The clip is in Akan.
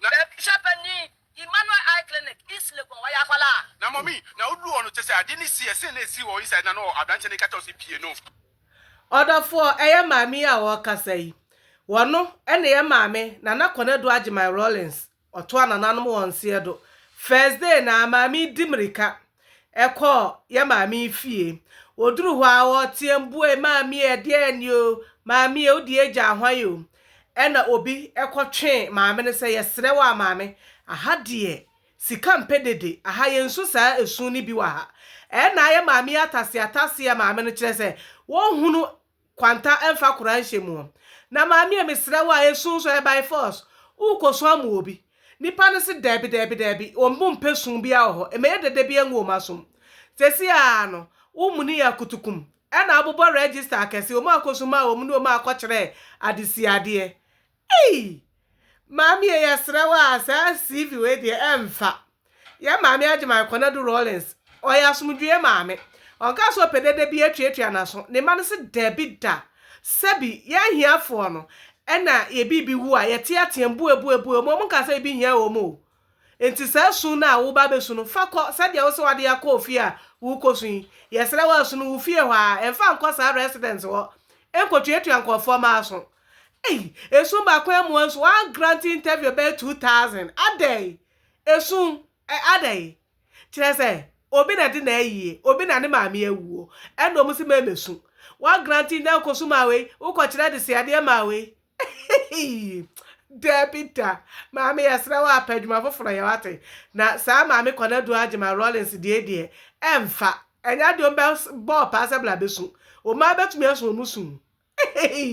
Na ebi hyɛ panin Emmanuel Eye Clinic, East Legon, ɔyɛ akwadaa. Na mummy na oduru hɔ no kyɛ sɛ ade no si ɛsen na esi wɔ inside na na aberanteɛ no reka kyerɛ wo sɛ pie no. Ɔdɔfoɔ, ɛyɛ maame yi a ɔrekasa yi. Ɔno na ɛyɛ maame Nana Konadu Agyeman Rawlings, ɔtoa nananom wɔn nseɛ do. First day no ara, maame yi di mmirika Ɛkɔɔ yɛn maame fie. Ɔduruu hɔ a, ɔteɛm buee, Maame, ɛdeɛn ni o? Maame, wo deɛ agya ahwan o? Ɛna obi kɔtwee maame no sɛ, Yɛsrɛ wo a maame, aha deɛ sika mpɛ dede, aha yɛnsu saa esu no bi wɔ ha. Ɛna yɛn maame ataseataseɛ maame no kyerɛ sɛ wɔnhunu kwanta mfa kora nhyɛ mu ɔ. Na maame ɛ mesrɛ wo a ɛsu nso ɛ by force wo kɔ su amu obi. Nipa no se daabi daabi daabi wɔn bo mpɛ su bia wɔ hɔ ɛmɛyɛ dɛ da bia ngu wɔn asom. Sɛsi aa no wo muni yɛ akutukum ɛna abobɔ register akɛse wɔn akɔ su maa wɔn ne wɔn akɔ kyerɛ adesiadeɛ. Ei! Maame ei yɛsrɛ wo a saa CV wei deɛ ɛmfa. Yɛn maame Agyeman Konadu Rawlings, ɔyɛ asomdwoeɛ maame. Ɔnkaa sɛ ɔpɛ dede bi atuatua n'aso. Ne mma no se dabi da. Sɛbi, yɛn ahiafoɔ no, ɛna yɛn biribi wu a, yɛteateam, bue, bue, bue, wɔn nkaa sɛ biribi hia wɔn o. Enti saa su no a woreba abɛsu no, fa kɔ sɛdeɛ wo sɛ wode akɔ ofie a worekɔsu yi. Yɛsrɛ wo asu no wo fie hɔ ara, mfa nkɔ saa residence hɔ nkɔtuatua nkurɔfoɔ mma aso. Ei! Esu baako ammua nso, wɔagrante interview bɛyɛ two thousand. Adɛn? Esu ɛ, adɛn? Kyerɛ sɛ, obi na ɛde n'ayie, obi na ne maame awuo, ɛna wɔn se mɛmɛsu. Wɔagrante, na wokɔsu maa wei, wokɔkyerɛ adesuadeɛ maa wei. Eii Dabi da maame yɛsrɛ wo a pɛ adwuma foforɔ yɛ wate na saa maame Kwanadu Agyema Rawlings deɛ deɛ ɛmfa ɛnyɛ adeɛ ɔmbɛ bɔɔ paa sɛ bla bɛsu omaa bɛtumi asu ɔmu su eii.